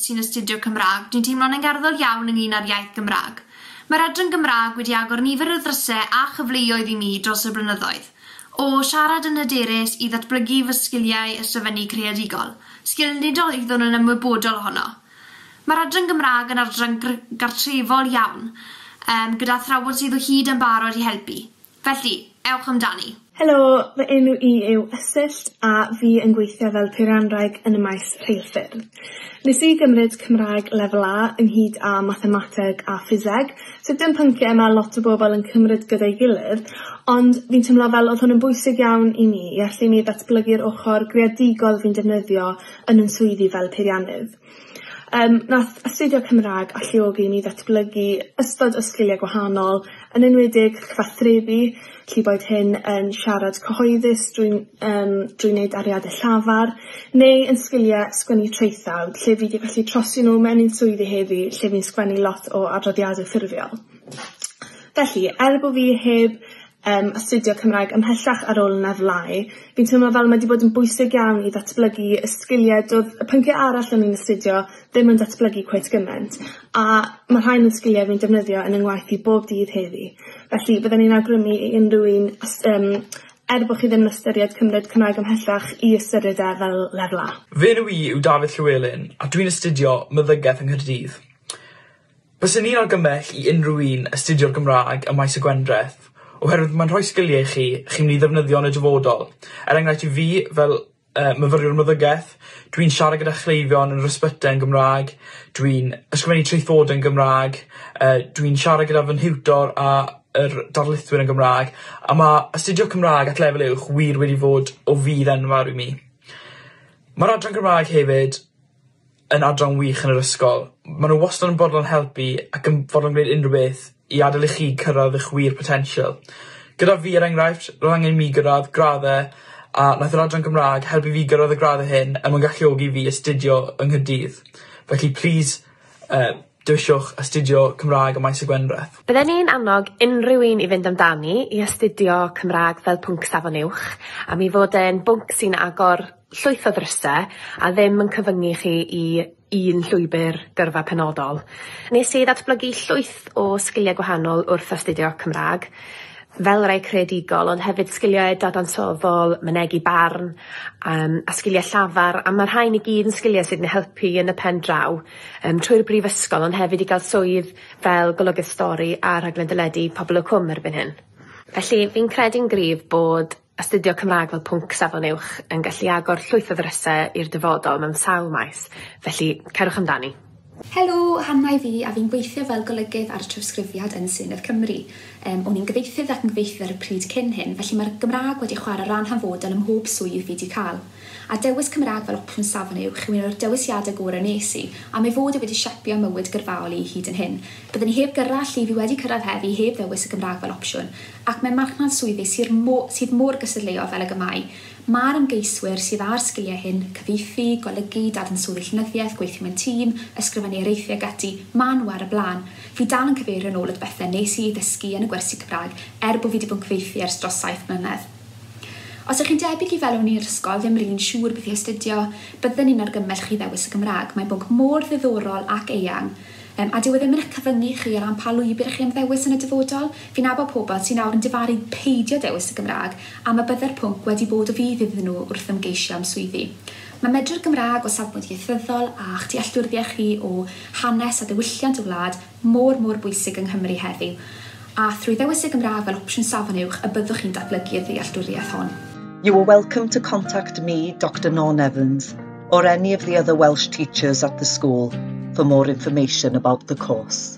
sy'n astudio Cymraeg, dwi'n teimlo'n angerddol iawn ynglŷn â'r iaith Gymraeg. Mae'r Adran Gymraeg wedi agor nifer o ddrysau a chyfleoedd i mi dros y blynyddoedd, o siarad yn hyderus i ddatblygu fy sgiliau ysgrifennu creadigol, sgil nid oeddwn yn ymwybodol ohono. Mae'r Adran Gymraeg yn adran gr- gartrefol iawn, yym, gyda athrawon sydd o hyd yn barod i helpu. Felly, ewch amdani! Helo, fy enw i yw Ysyllt a fi yn gweithio fel peirianwraig yn y maes rheilffyrdd. Nes i gymryd Cymraeg Lefel A ynghyd â Mathemateg a Ffiseg, so dim pynciau ma' lot o bobl yn cymryd gyda'i gilydd, ond fi'n teimlo fel oedd hwn yn bwysig iawn i mi i allu i mi ddatblygu'r ochr greadigol fi'n defnyddio yn yn swyddi fel peiriannydd. Yym nath astudio Cymra'g alluogi i mi ddatblygu ystod o sgilie gwahanol yn enwedig cyfathrebu llu boed hyn yn siarad cyhoeddus drwy yym drwy neud ariade llafar neu yn sgilie sgwennu traethawd lle fi 'di gallu trosi nw mewn i'n swyddi heddi lle fi'n sgwennu lot o adroddiade ffurfiol. Felly er bo fi heb yym astudio Cymraeg ymhellach ar ôl yn efelyh. Fi'n teimlo fel mae 'di bod yn bwysig iawn i ddatblygu y sgilie do'dd y pyncie arall o'n i'n astudio ddim yn datblygu cweit gyment a ma' rhain yn sgilie fi'n defnyddio yn 'y ngwaith i bob dydd heddi. Felly bydden i'n awgrymu i unryw un os yym er bo' chi ddim yn ystyried cymryd Cymraeg ymhellach i ystyried e fel lefel A. Fy enw i yw Dafydd Llywelyn a dwi'n astudio meddygeth yng Nghaerdydd. Byswn i'n argymell i unrhyw un astudio'r Gymraeg ym Maes y Gwendraeth, oherwydd mae'n rhoi sgiliau i chi chi'n mynd i ddefnyddio yn y dyfodol. Er enghraifft i fi, fel yy myfyriwr meddygaeth, dwi'n siarad gyda chleifion yn yr ysbytai yn Gymraeg, dwi'n ysgrifennu traethodau yn Gymraeg, yy dwi'n siarad gyda fy nhiwtor a yr darlithwyr yn Gymraeg, a ma' astudio Cymrâg at lefel uwch wir wedi fod o fudd enfawr i mi. Ma'r adran Gymraeg hefyd yn adran wych yn yr ysgol. Ma' n'w wastod yn fodlon helpu ac yn fodlon gwneud unryw beth i adel i chi cyrradd 'ych wir potential. Gyda fi er enghraifft ro'dd angen i mi gyrradd gradde a nath yr adran Gymra'g helpu fi gyrradd y gradd hyn er mwyn galluogi fi astudio yng Nghaerdydd. Felly plîs yy Dewiswch astudio Cymraeg ym Maes y Gwendraeth. Bydden ni'n annog unrhyw un i fynd amdani i astudio Cymraeg fel pwnc Safon Uwch am ei fod e'n bwnc sy'n agor llwyth o ddryse a ddim yn cyfyngu chi i un llwybr gyrfa penodol. Nes i ddatblygu llwyth o sgiliau gwahanol wrth astudio Cymraeg, fel rai creadigol ond hefyd sgiliau dadansoddol, mynegi barn yym a sgiliau llafar a ma' rhain i gyd yn sgiliau sydd yn helpu yn y pen draw. Yym trwy'r brifysgol ond hefyd i gael swydd fel golygydd stori a rhaglen deledu Pobol y Cwm erbyn hyn. Felly fi'n credu'n gryf bod astudio Cymraeg fel pwnc safon uwch yn gallu agor llwyth o ddryse i'r dyfodol mewn sawl maes, felly cerwch amdani. Helo, Hannah yw fi a fi'n gweithio fel golygydd ar trawsgrifiad yn Senedd Cymru. Yym o'n i'n gyfieithydd ac yn gyfieithydd ar y pryd cyn hyn, felly mae'r Gymraeg wedi chwarae ran hanfodol ym mhob swydd fi 'di cael. a dewis Cymraeg fel opsiwn safon uwch yw un o'r dewisiadau gorau wnes i, am ei fod e wedi siapio mywyd gyrfaol i hyd yn hyn. Byddwn i heb gyrra lle fi wedi cyrraedd heddi heb ddewis y Gymraeg fel opsiwn, ac mewn marchnad swyddi syr mo- sydd mor gystadleuol fel ag y mae, mae'r ymgeiswyr sydd â'r sgiliau hyn, cyfieithu, golygu, dadansoddi llenyddiaeth, gweithio mewn tîm, ysgrifennu areithiau ac ati, maen nhw ar y blaen. Fi dal yn cyfeirio'n ôl at bethau wnes i eu dysgu yn y gwersi Cymraeg, er bo fi 'di bod yn cyfieithu ers dros saith mlynedd. Os ych chi'n debyg i felw neu'r ysgol ddim r'un siŵr beth i astudio, bydden ni'n argymell chi ddewis y Gymraeg. Mae'n bwnc mor ddiddorol ac eang, yym, a dyw e ddim yn eich cyfyngu chi o ran pa lwybr ych chi am ddewis yn y dyfodol. Fi'n nabod pobl sy'n nawr yn difaru peidio dewis y Gymraeg am y bydde'r pwnc wedi bod o fudd iddyn nhw wrth ymgeisio am swyddi. Mae medru'r Gymraeg o safbwynt ieithyddol a'ch dealltwriaeth chi o hanes a diwylliant y wlad, mor, mor bwysig yng Nghymru heddiw, a thrwy ddewis y Gymraeg fel opsiwn Safon Uwch y byddwch chi'n datblygu y ddealltwriaeth hon. You are welcome to contact me, Doctor Norn Evans, or any of the other Welsh teachers at the school for more information about the course.